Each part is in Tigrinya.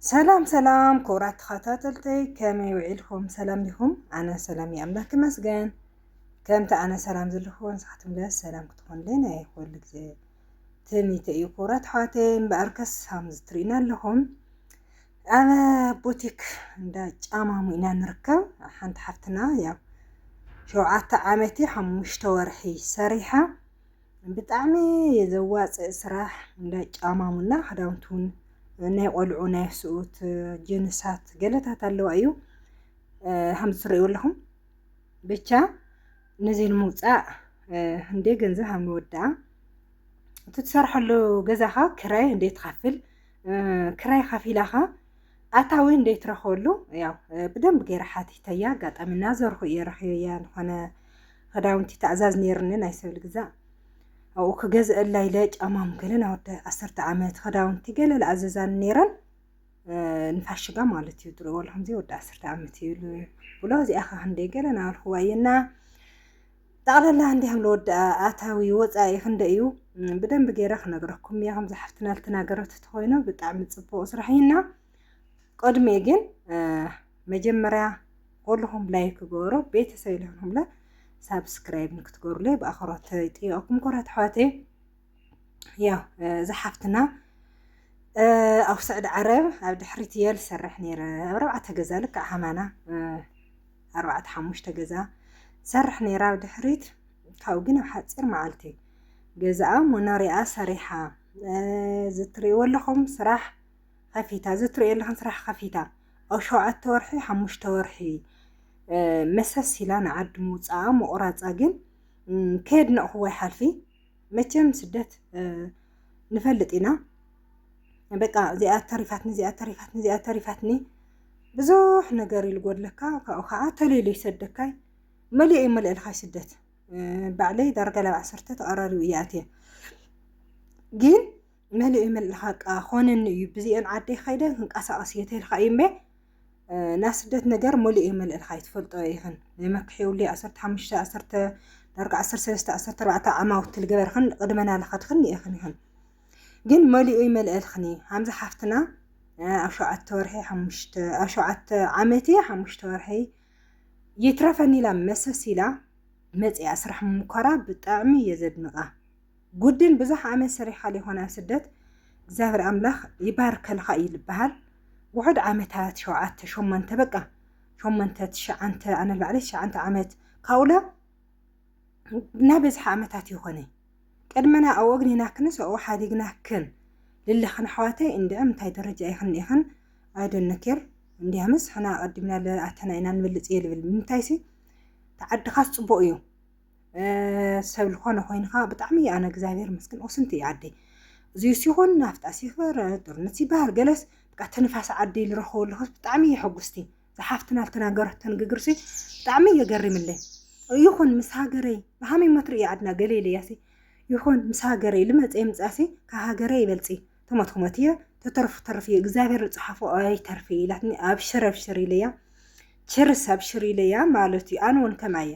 ሰላም ሰላም ክቡራት ተኸታተልተይ ከመይ ውዒልኩም ሰላም ዲኹም? ኣነ ሰላም እዩ ኣምላክ ይመስገን። ከምቲ ኣነ ሰላም ዘለኹ ንስኻትኩም ለ ሰላም ክትኾኑለይ ናይ ኩሉ ግዜ ትምኒተ እዩ ክቡራት ኣሕዋተይ። እምበኣር ከስ ከምዚ ትርእዩና ኣለኹም ኣብ ቡቲክ እንዳ ጫማሙ ኢና ንርከብ። ሓንቲ ሓፍትና ያው ሸውዓተ ዓመት ሓሙሽተ ወርሒ ሰሪሓ ብጣዕሚ ዘዋፅእ ስራሕ እንዳ ጫማሙና ክዳውንቱን ናይ ቆልዑ ናይ ኣስኡት ጅንሳት ገለታት ኣለዋ እዩ ከምዚ ትርእዩ ኣለኹም ብቻ ነዚ ንምውፃእ እንዴ ገንዘብ ሃብ ንወድኣ እቲ ትሰርሐሉ ገዛኻ ክራይ እንዴ ትኸፍል ክራይ ከፊላኻ ኣታዊ እንዴ ትረኽበሉ ያው ብደንብ ገይረ ሓቲተያ ኣጋጣሚ እናዘርኹ እየ ረኺበያ ዝኾነ ኽዳውንቲ ታእዛዝ ኔርኒ ናይ ሰብ ልግዛእ ኣብኡ ክገዝኣላ ኢለ ጫማም ገለ ናይ ወዲ ዓሰርተ ዓመት ኽዳውንቲ ገለ ልኣዘዛኒ ኔረን ንፋሽጋ ማለት እዩ ድሮ ወላ ከምዚ ወዲ ዓሰርተ ዓመት እዩ ኢሉ ብሎ እዚኣ ኸ ክንደይ ገለ ናበልክዋ እየና ጠቕላላ እንዲ ከም ልወዲ ኣታዊ ወፃኢ ክንደይ እዩ ብደንብ ገይረ ክነግረኩም እየ ከምዚ ሓፍትና ልተናገረት ተኮይኑ ብጣዕሚ ፅቡቅ ስራሕ እዩና ቅድሚ ግን መጀመርያ ኩልኹም ላይክ ግበሩ ቤተሰብ ልኹምለ ሳብስክራይብ ንክትገብሩለይ ብኣኽብሮት ይጥይቀኩም ኩራት ኣሕዋተይ ያው ዝሓፍትና ኣብ ስዕዲ ዓረብ ኣብ ድሕሪት እየ ዝሰርሕ ነይረ ኣብ ኣርባዕተ ገዛ ልክዕ ሃማና ኣርባዕተ ሓሙሽተ ገዛ ዝሰርሕ ነይረ ኣብ ድሕሪት ካብኡ ግን ኣብ ሓፂር መዓልቲ ገዛኣ መኖሪኣ ሰሪሓ ዝትሪእዎ ኣለኹም ስራሕ ከፊታ ዝትሪእዎ ኣለኹም ስራሕ ከፊታ ኣብ ሸውዓተ ወርሒ ሓሙሽተ ወርሒ መሰስ ኢላ ንዓዲ ምውጻኣ ምቑራጻ ግን ከየድነቕኹዎ ኣይሓልፊ መቸም ስደት ንፈልጥ ኢና በቃ እዚኣ ተሪፋትኒ እዚኣ ተሪፋትኒ እዚኣ ተሪፋትኒ ብዙሕ ነገር ኢሉ ጎድለካ ካብኡ ከዓ ተልኢሉ ይሰደካይ መሊኡ እዩ መልእልኻይ ስደት ባዕለይ ዳርጋ ላብ ዓሰርተ ተቐራሪቡ እየ ኣትየ ግን መሊኡ የመልኻቃ ኾነኒ እዩ ብዚኤን ዓደይ ኸይደ ክንቀሳቀስ እየ ተልካ እዩ እምበ ናይ ስደት ነገር መሊኡ የመልእልካ እዩ ትፈልጦ ይኽን የመክሕውሊ ዓሰርተ ሓሙሽተ ዓሰርተ ዳርጋ ዓሰርተ ሰለስተ ዓሰርተ ኣርባዕተ ዓማውቲ ልገበርኽን ቅድመና ልኸድኽን ይእኽን ይኽን ግን መሊኡ ይመልእልኽን እዩ ሃምዚ ሓፍትና ኣብ ሸውዓተ ወርሒ ሓሙሽተ ኣብ ሸውዓተ ዓመት እየ ሓሙሽተ ወርሒ ይትረፈኒ ኢላ መሰስ ኢላ መፅኣ ስራሕ ምምኳራ ብጣዕሚ እየ ዘድንቃ ጉድል ብዝሕ ዓመት ሰሪሓ ሊኾን ኣብ ስደት እግዚኣብሔር ኣምላክ ይባርከልኻ እዩ ልበሃል ውሑድ ዓመታት ሸውዓተ ሸሞንተ በቃ ሸሞንተ ትሽዓንተ ኣነ ልባዕለይ ትሽዓንተ ዓመት ካብኡላ እና በዝሕ ዓመታት ይኾነ ቅድመና ኣብ ወግኒና ክንስ ኣብኡ ሓዲግና ክን ልለኽን ኣሕዋተይ እንድዕም እንታይ ደረጃ ይኽን ይኽን ኣይደነኬር እንዲያ ምስ ሕና ኣቀዲምና ለኣተና ኢና ንበልፅ እየ ልብል ምንታይሲ ተዓድኻስ ፅቡቅ እዩ ሰብ ልኾነ ኮይንኻ ብጣዕሚ ኣነ እግዚኣብሔር መስገን ኦስንቲ እየ ዓደይ እዚዩ ሲኾን ናፍጣ ሲፈር ጦርነት ሲበሃል ገለስ ብቃ ተንፋስ ዓዲ ልረኸቦ ኣለኹስ ብጣዕሚ እየ ሕጉስቲ ዝሓፍትና ልተናገረቶ ንግግርሲ ብጣዕሚ እየ ገሪምለይ ይኹን ምስ ሃገረይ ብሃመይ መትሪ እየ ዓድና ገለ ኢለያሲ ይኹን ምስ ሃገረይ ልመፀ ይምፃሲ ካብ ሃገረይ ይበልፂ ተሞት ክሞት እየ ተተርፉ ተርፍ እየ እግዚኣብሔር ዝፀሓፎ ኣይተርፍ ኢላትኒ ኣብሽር ኣብሽር ኢለያ ችርስ ኣብሽር ኢለያ ማለት እዩ ኣነ እውን ከምኣ እየ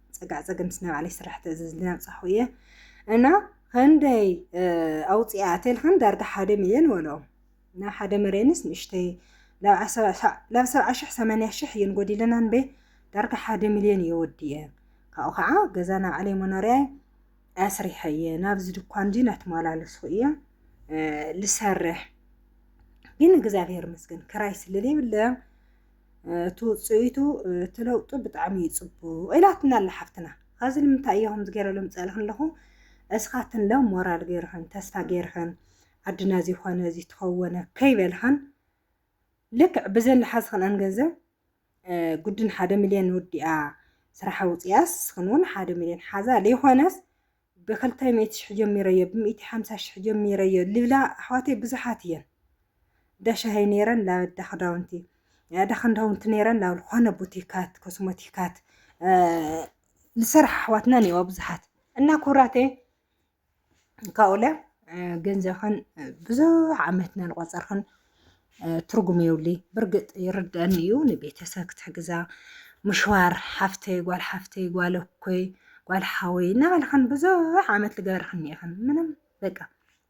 ፀጋዕ ፀገም ናይ ባዕለይ ስራሕ ተእዝዝ ዝናብፃኹ እየ እና ክንደይ ኣውፅኣ ቴልክን ዳርጋ ሓደ ሚልዮን ወሎ እና ሓደ መሬንስ ንእሽተይ ላብ ሰብዓ ሽሕ ሰማንያ ሽሕ እየን ጎዲለና ንበ ዳርጋ ሓደ ሚልዮን እየ ወዲየ ካብኡ ከዓ ገዛ ናይ ባዕለይ መኖርያ ኣስሪሐ እየ ናብዚ ድኳን እዚ ናተመላለስኩ እየ ልሰርሕ ግን እግዚኣብሔር መስገን ክራይ ስለለይብለ እቲ ውፅኢቱ እቲ ለውጢ ብጣዕሚ እዩ ፅቡቅ ኢላትና ኣላ ሓፍትና ካብዚ ንምንታይ እየ ከምዚ ገይረ ሎም ፀእልክ ኣለኹ እስኻትን ለ ሞራል ገይርኽን ተስፋ ገይርኽን ዓድና እዚ ኾነ እዚ ተኸወነ ከይበልኽን ልክዕ ብዘን ዝሓዝኽንአን ገንዘብ ጉድን ሓደ ሚልዮን ወዲኣ ስራሓ ውፅያስ ኽን እውን ሓደ ሚልዮን ሓዛ ዘይኾነስ ብክልተ ሚእቲ ሽሕ ጀሚረዮ ብሚእቲ ሓምሳ ሽሕ ጀሚረዮ ልብላ ኣሕዋተይ ብዙሓት ኢየን እንዳሻሂ ነይረን ላብ እዳክዳውንቲ እዳክንዳውንቲ ነይረን ላብ ልኮነ ቡቲካት ኮስሞቲካት ልሰርሓ ኣሕዋትና እኒኤዋ ብዙሓት እና ኩብራተይ ካብኡለ ገንዘብክን ብዙሕ ዓመትና ልቆፀርክን ትርጉም የብሉ ብርግጥ ይርደአኒ እዩ ንቤተሰብ ክትሕግዛ ምሽዋር ሓፍተይ ጓል ሓፍተይ ጓል እኮይ ጓል ሓወይ እናበልኽን ብዙሕ ዓመት ዝገበርኽን እኒኢኽን ምንም በቃ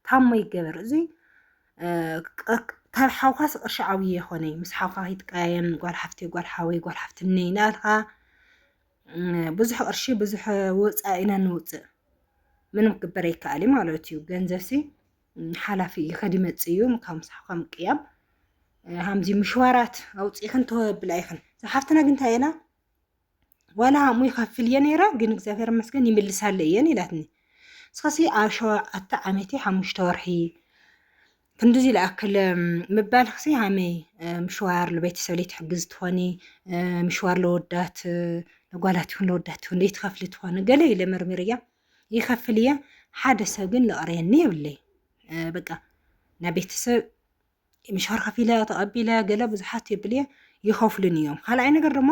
ታሞ ይገበር እዚ ካብ ሓውካስ ቅርሺ ዓብዪ የኾነ ምስ ሓውካ ከይትቀያየም ጓል ሓፍተይ ጓል ሓወይ ጓል ሓፍትነይ እናበልካ ብዙሕ ቅርሺ ብዙሕ ወፃኢ ኢና ንውፅእ ምንም ክግበር ኣይከኣል ማለት እዩ ገንዘብሲ ሓላፊ እዩ ከዲ መጽእ እዩ ካብ ምሳሕ ከም ቅያም ሃምዚ ምሽዋራት ኣውፂእኽን ተወብላ ኢኽን ሓፍትና ግን እንታይ ኢላ ዋላ ሃሙ ይኸፍል እየ ነይረ ግን እግዚኣብሔር መስገን ይምልሳለ እየን ኢላትኒ እስኸሲ ኣብ ሸውዓተ ዓመቴ ሓሙሽተ ወርሒ ክንድዚ ዝኣክል ምባል ክሲ ሃመይ ምሽዋር ንቤተሰብ ትሕግዝ ትኾኒ ምሽዋር ለወዳት ለጓላት ይኹን ለወዳት ይኹን ዘይትኸፍሊ ትኾኒ ገለ ኢለ መርሚር እያ ይኸፍል እየ ሓደ ሰብ ግን ለቕርየኒ የብለይ በቃ ናይ ቤተሰብ ምሻር ከፊለ ተቐቢለ ገለ ብዙሓት የብል እየ ይኸፍሉን እዮም ካልኣይ ነገር ድማ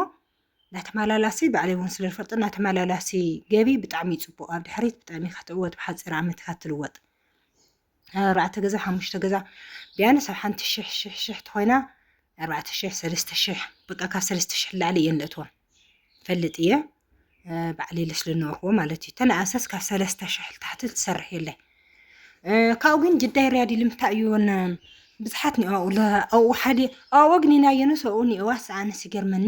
ናተመላላሲ ባዕለይ እውን ስለ ዝፈልጦ ናተመላላሲ ገቢ ብጣዕሚ እዩ ፅቡቅ ኣብ ድሕሪት ብጣዕሚ እካ ትዕወት ብሓፂር ዓመት እካ ትልወጥ ኣርባዕተ ገዛ ሓሙሽተ ገዛ ቢያንስ ኣብ ሓንቲ ሽሕ ሽሕ ሽሕ ተኾይና ኣርባዕተ ሽሕ ሰለስተ ሽሕ በቃ ካብ ሰለስተ ሽሕ ላዕሊ እየን ለእትዋ ፈልጥ እየ ባዕለይ ልስለ ነበርክዎ ማለት እዩ ተነኣሰስ ካብ ሰለስተ ሽሕ ታሕቲ ትሰርሕ የለ ካብኡ ግን ጅዳይ ርያድ ልምታይ እዩን ብዙሓት ኒኦ ኣብኡ ሓደ ኣብኡ ግን ናየነስ ኣብኡ ኒኦዋስ ኣነስ ይገርመኒ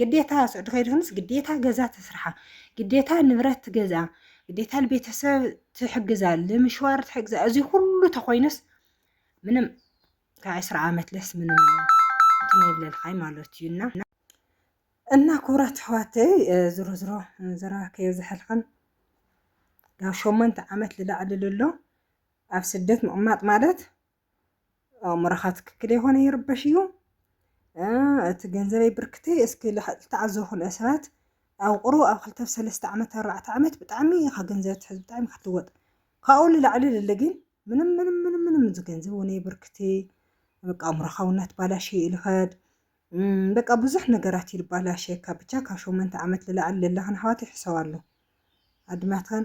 ግዴታ ስዑዲ ከይድክንስ ግዴታ ገዛ ተስርሓ፣ ግዴታ ንብረት ትገዝኣ፣ ግዴታ ንቤተሰብ ትሕግዛ፣ ንምሽዋር ትሕግዛ። እዚ ኩሉ ተኮይኑስ ምንም ካብ ዕስራ ዓመት ለስ ምንም እንትን ይብለልካይ ማለት እዩ እና እና ክቡራት ኣሕዋተይ ዝሮ ዝሮ ዘራ ከየዝሐልክን ናብ ሸሞንተ ዓመት ልላዕሊ ልሎ ኣብ ስደት ምቕማጥ ማለት ኣእምሮኻ ትክክል የኾነ ይርበሽ እዩ እቲ ገንዘበይ ብርክተይ እስኪ ዝተዓዘቡ ክልተ ሰባት ኣብ ቁሩ ኣብ ክልተ ሰለስተ ዓመት ኣርባዕተ ዓመት ብጣዕሚ ኢኻ ገንዘብ ትሕዝ ብጣዕሚ ኢኻ ትልወጥ ካብኡ ንላዕሊ ልሊ ግን ምንም ምንም ምንም ምንም እዚ ገንዘብ እውነይ ብርክቲ በቃ ኣእምሮኻ እውን ኣትባላሽ እዩ ኢልኸድ በቃ ብዙሕ ነገራት እዩ ልባላሸካ ብቻ ካብ ሸመንተ ዓመት ልላዕሊ ለለኽን ኣሕዋት ይሕሰባሉ ኣድማትኸን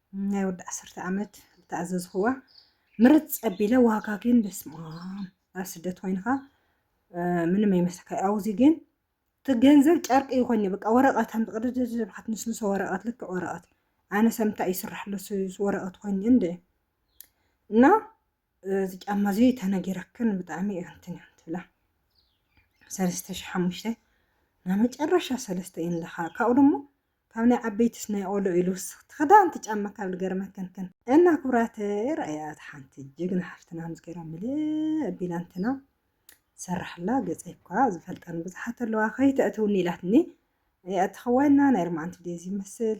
ናይ ወዲ ዓሰርተ ዓመት ዝተኣዘዝኽዋ ምርፅ ኣቢለ ዋጋ ግን በስማም ኣብ ስደት ኮይንኻ ምንም ኣይመስልካ ኣብዚ ግን እቲ ገንዘብ ጨርቂ ይኾን በቃ ወረቐት ኣም ቅድድድብ ክትንስንሶ ወረቐት ልክዕ ወረቐት ኣነ ሰምታ ይስራሕሎ ወረቐት ኮይኑ እንደ እና እዚ ጫማ እዚ ተነጊረክን ብጣዕሚ እንትን እያ ትብላ ሰለስተ ሽሕ ሓሙሽተ ናይ መጨረሻ ሰለስተ እየን ለካ ካብኡ ደሞ ካብ ናይ ዓበይትስ ናይ ቆልዑ ኢሉ ውስኽቲ ክዳን ትጫማ ካብ ልገርመ ክንክን። እና ክብራተይ ረኣያ እታ ሓንቲ ጅግና ሓፍትና ምስ ገራ ምልእ ኣቢላ እንትና ትሰርሓላ ገጸይ እኳ ዝፈልጠን ብዙሓት ኣለዋ ከይተእትውኒ ኢላትኒ እያ እተኸዋይና ናይ ርማዓንቲ ዴዚ ይመስል